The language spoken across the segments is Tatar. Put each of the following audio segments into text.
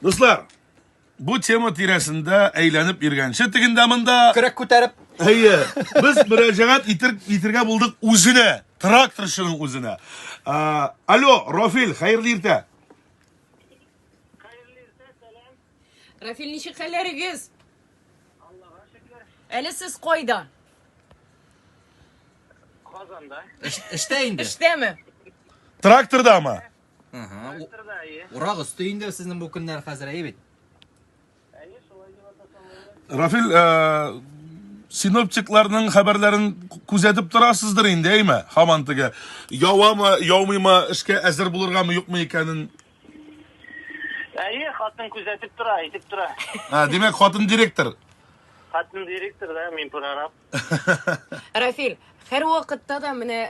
Дуслар, бу тема тирәсендә әйләнеп йөргәнче тегендә монда Көрәк күтәреп. Әйе, без мөрәҗәгать итер, итергә булдык үзенә, тракторчының үзенә. А, алло, Рафил, хәерле иртә. Рафил, ничек хәлләрегез? Аллага шөкер. Әле сез кайда? Казанда. Эш- Эштә инде. Эштәме? Трактордамы? Ага. Урак өсте инде сезнең бу көннәр хәзер, әйе бит? Рафил, э, синоптикларның хәбәрләрен күзәтеп торасыздыр инде, әйме? Хаман теге явамы, яумыймы, эшкә әзер булыргамы, юкмы икәнен. Әйе, хатын күзәтеп тора, әйтеп тора. Ә, димәк, хатын директор. Хатын директор да, мин прораб. Рафиль, һәр вакытта да менә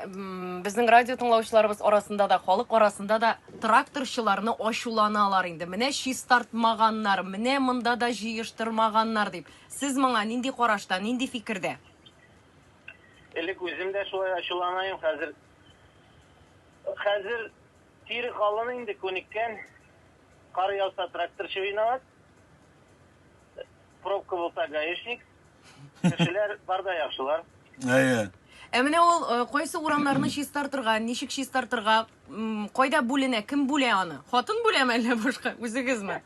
безнең радио тыңлаучыларыбыз арасында да, халык арасында да тракторчыларны ачуланалар инде. Менә чистартмаганнар, менә монда да җыештырмаганнар дип. Сез моңа нинди карашта, нинди фикердә? Элек үзем дә шулай ачуланаем, хәзер хәзер тире калын инде күнеккән. Кар яуса тракторчы виноват. Пробка булса гаишник. Кешеләр бар да яхшылар. Әйе. Ә менә ул э, кайсы урамнарны чистартырга, ничек чистартырга, м, кайда бүленә, кем бүлә аны? Хатын бүләме әллә башка? Үзегезме?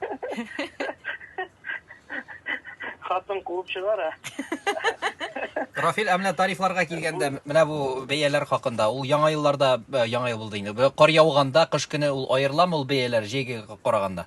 Хатын куып чыгара. Рафил, ә менә тарифларга килгәндә, менә бу бәяләр хакында, ул яңа елларда, э, яңа ел булды инде, бе- кар яуганда, кыш көне ул аерыламы ул бәяләр җәйгә караганда?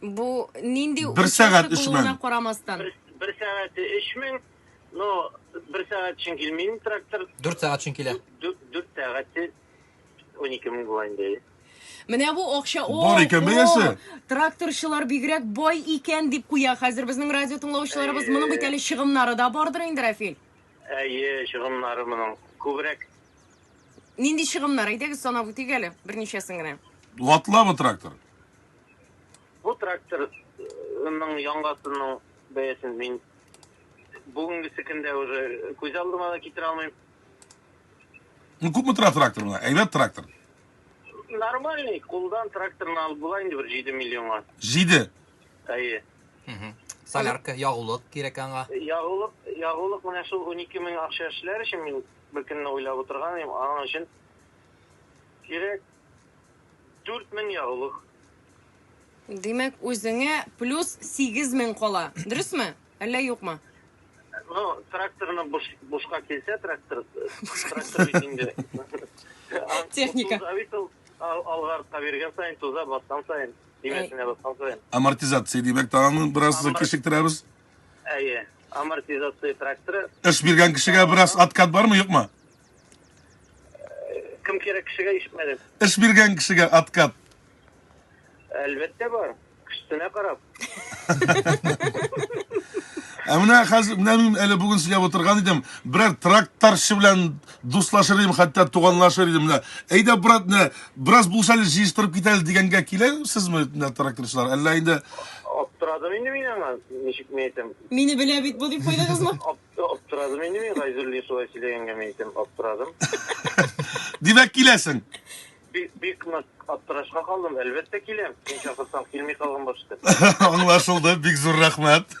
Бу нинди Бер участок сәгать өч булуына мең. карамастан. Бер, бер сәгате 3000, но бер сәгать өчен килмим трактор. 4 сәгать өчен килә. 4 сәгате 12000 була инде. Менә бу акча. О, Бар икән о, бәясе. Тракторчылар бигрәк бай икән дип куя хәзер безнең радио тыңлаучыларыбыз. Әйе. Моның бит әле чыгымнары да бардыр инде, Рафил. Әйе, чыгымнары моның күбрәк. Нинди чыгымнар? Әйдәгез санап үтик әле берничәсен генә. Ватламы трактор? Бу тракторның яңгасының бәясен мин бүгенгесе көндә уже күз алдыма да китерә алмыйм. Ну, күпме тора трактор мына? Әйбәт трактор. Нормальный, кулдан тракторны алып була инде бер 7 миллионга. 7. Әйе. Солярка, ягулык кирәк аңа. Ягулык, ягулык менә шул 12 мең акча эшләр өчен мин бер көнне уйлап утырган идем, аның өчен кирәк. Дүрт мең ягулык. Димәк, үзеңә плюс сигез мең кала. Дөресме? Әллә юкмы? Ну, тракторны буш, бушка килсә, трактор, трактор бит инде. Техника. Туза бит ул, ал- алга артка биргән саен, туза баскан саен, тимәсенә баскан саен. Амортизация димәк, та аны бераз Амор- кешектерәбез. Әйе, амортизация тракторы. Эш биргән кешегә бераз откат бармы, юкмы? Кем кирәк кешегә ишетмәдем. Эш биргән кешегә откат. Әлбәттә бар. Кешесенә карап. Ә менә хәзер менә мин әле бүген сөйләп утырган идем, берәр тракторчы белән дуслашыр идем, хәтта туганлашыр идем. Менә әйдә, брат, менә бераз булса әле җыештырып кит әле дигәнгә киләсезме, менә тракторчылар? Әллә инде Аптырадым инде мин аңа, ничек ни әйтәм. Мине белә бит бу дип куйдыгызмы? Ап- Аптырадым инде мин Гайзуллин шулай сөйләгәнгә мин әйтәм, аптырадым. Димәк, киләсең. Бик, бик нык аптырашка калдым. Әлбәттә киләм. Син чакырсаң килми калган башта. Аңлашылды, бик зур рәхмәт.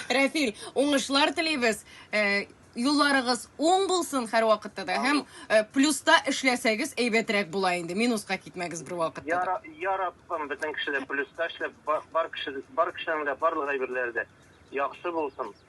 Рәфил, уңышлар телибез. Э, Юлларыгыз уң булсын һәрвакытта да. Һәм э, плюста эшләсәгез әйбәтрәк була инде. Минуска китмәгез бер вакытта. Я, да. Ра- я Раббым, бөтен кеше дә плюста эшләп, ба- бар кеше, бар кешенең дә барлык әйберләре дә яхшы булсын.